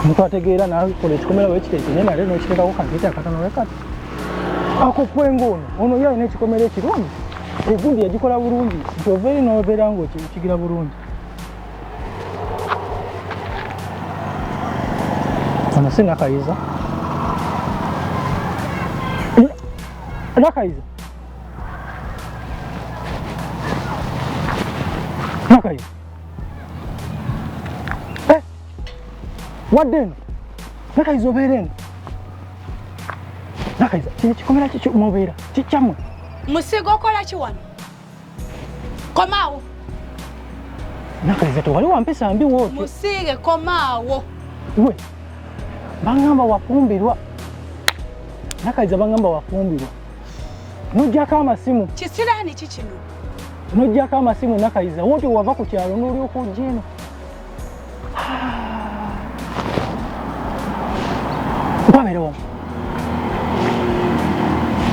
omuntu ategeera nakola ekikomera wekiteeke naye nale nokiteekako kanteete akatono wekati ako kwenga ono ono ye alina ekikomera ekirungi egundi yagikola bulungi nti ovaeri nobeera nga okigira bulungi ono si nakayiza nakayiza nakayiza wadde eno nakayiza obeera eno nakayiza kino kikomera kikyo mubeera kikyamwe musiga okola ki wano komaawo nakayiza tewali wampisa mbi wootyo musiige komaawo we bangamba wafumbirwa nakayiza bangamba wafumbirwa nojjako amasimu kisiraani kikino nojjako amasimu nakayiza wootyo wava ku kyalo n'olyoka ojja eno nkwabera wamu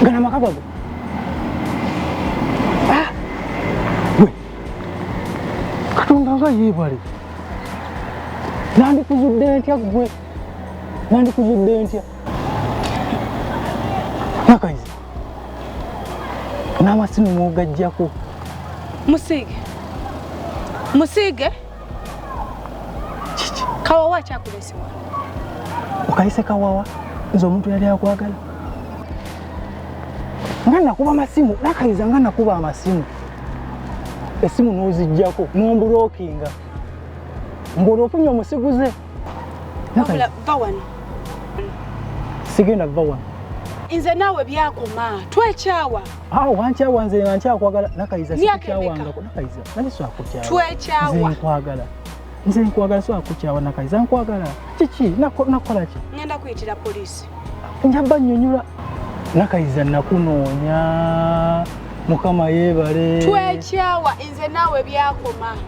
gana amaka gago ah! gwe katonda nga yeebale nandikuzudde ntya gwe nandikuzudde ntya nakayizi n'amasimu mwogajjako musiige musiige kiki kawawa akyakuleesewa okayise kawawa nze omuntu yali akwagala nga nakuba amasimu nakayiza nga nakuba amasimu esimu nozijjako nombulokinga ng'olwofunye omusiguze wabula va wano sigenda va wano nze naawe byakoma twekyawa awo wankyawa nze nankyakwagala nakayiza sikyawangaku nakayiza naye swakukyawa twekyawa nze nkwagala nze nkwagala swakukyawa nakayiza nkwagala kiki nakola ki ngenda kuyitira poliisi njaba nyonyola nakayiza nakunoonya mukama yebale twekyawa nze naawe byakoma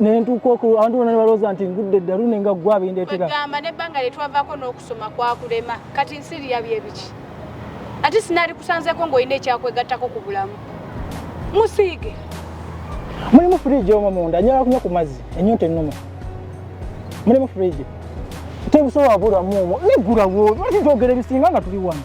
nentuuka oku abantu bona nebalowooza nti ngudde eddalu ne nga ggwa bindeetera kwegamba nebbanga lye twavaako n'okusoma kwakulema kati nsiri yabyo ebiki ate sinaali kusanzeeko ng'olina ekyakwegattako ku bulamu musiige mulimu fridge omwo munda njala kunywa ku mazzi enyonta ennuma mulimu fridge tebusobola bulamu omwo negulawo lwaki njogera ebisinga nga tuli wano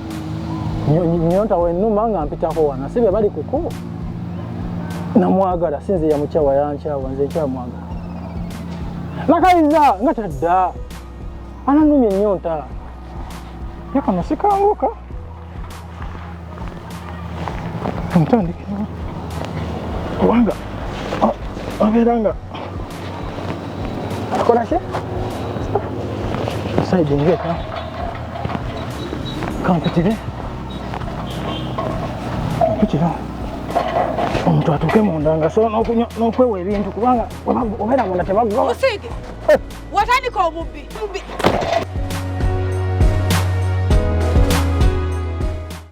nyonta wenuma nga mpitako wana si bebali kuku namwagala sinze yamukyawa yankyawa nze nkyamwagala nakaliza nga tadda ananumya enyonta yakano sikanguka ntandikira kubanga abeera nga Hakuna shida. Sasa jenge kama kama pitile pitile omuntu atuuke munda nga sobola n'okwewa ebintu kubanga obeera munda tebaggwa musiige watandika obubbi